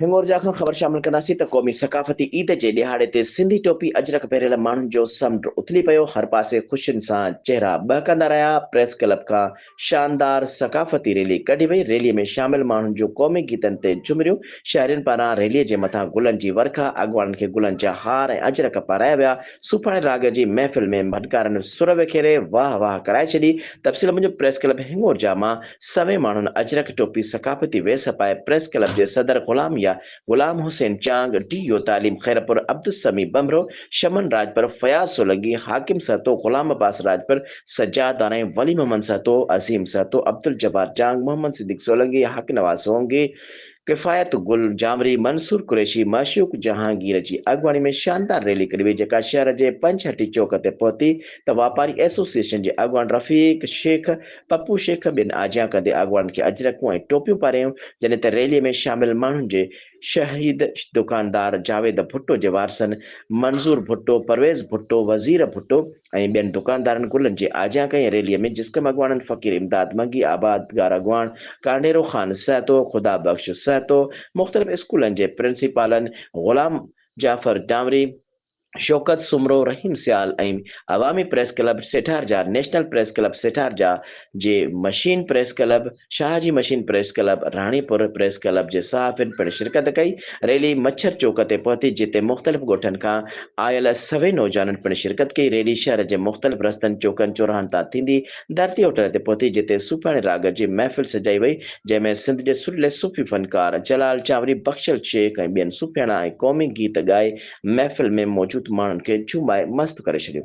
هنڱورجا کان خبر شامل ڪنداسين ته قومي ثقافتي عيد جي ڏهاڙي تي سنڌي ٽوپي اجرڪ پهريل ماڻهن جو سمنڊ اٿلي پيو، هر پاسي خوشين سان چهرا ٻهڪندا رهيا، پريس ڪلب کان شاندار ثقافتي ريلي ڪڍي وئي، ريلي ۾ شامل ماڻهن جون قومي گيتن تي جهومريون، شهرين پاران ريلي جي مٿان گلن جي ورکا، اڳواڻن کي گلن جا هار ۽ اجرڪ پارايا ويا، صوفاڻي راڳ جي محفل ۾ ڀنڪارن سر وکيري واهه واهه ڪرائي ڇڏي، تفصيل موجب پريس ڪلب هڱور جا مان سوين ماڻهن اجرڪ ٽوپي ثقافتي ويس پائي پريس ڪلب جي صدر غلام يا غلام حسين چانگ، ڊي يو تعليم خيرپور عبدالسميع ٻنڀرو، شمن راڄپر، فياض سولنگي، حاڪم سهتو، غلام عباس راڄپر، سجاد دانائي، ولي محمد سهتو، عظيم سهتو، عبدالجبار چانگ، محمد صديق سولنگي، حقنواز سونگي، ڪفايت گل جانوري، منصور قريشي، معشوق جهانگير جي اڳواڻي ۾ شاندار ريلي ڪڍي وئي جيڪا شهر جي پنج هٽي چوڪ تي پهتي ته واپاري ايسوسيئيشن جي اڳواڻ رفيق شيخ، پپو شيخ ٻين آجيان ڪندي اڳواڻن کي اجرڪون ۽ ٽوپيون پاريائيون جڏهن ته ريلي ۾ شامل ماڻهن جي شهيد دڪاندار جاويد ڀٽو جي وارثن منظور ڀٽو، پرويز ڀٽو، وزير ڀٽو، ۽ ٻين دڪاندارن گلن جي آجيان ڪئي ريلي ۾ جسقم اڳواڻن فقير امداد منگي، آباد گار اڳواڻ ڪانڊيرو خان سهتو، خدا بخش سهتو، مختلف اسڪولن جي پرنسپالن غلام جعفر ڊامري، شوڪت سومرو، رحيم سيال ۽ عوامي پريس ڪلب سيٺار جا، نيشنل پريس ڪلب سيٺار جا جي مشين پريس ڪلب، شاهه جي machine press club Ranipur press club جي صحافين پڻ شرڪت ڪئي. ريلي مڇر چوڪ تي پهتي جتي مختلف ڳوٺن کان آيل سوين نوجوانن پڻ شرڪت ڪئي. ريلي شهر جي مختلف رستن چوڪن چوراهن تان ٿيندي ڌرتي هوٽل تي پهتي جتي صوفياڻي راڳ جي محفل سجائي وئي جنهن ۾ سنڌ جي سرلي صوفي فنڪار جلال چانوري بخشل شيخ ۽ ٻين صوفياڻا ۽ قومي گيت ڳائي محفل ۾ موجود ماڻهن کي جهومائي مست ڪري ڇڏيو.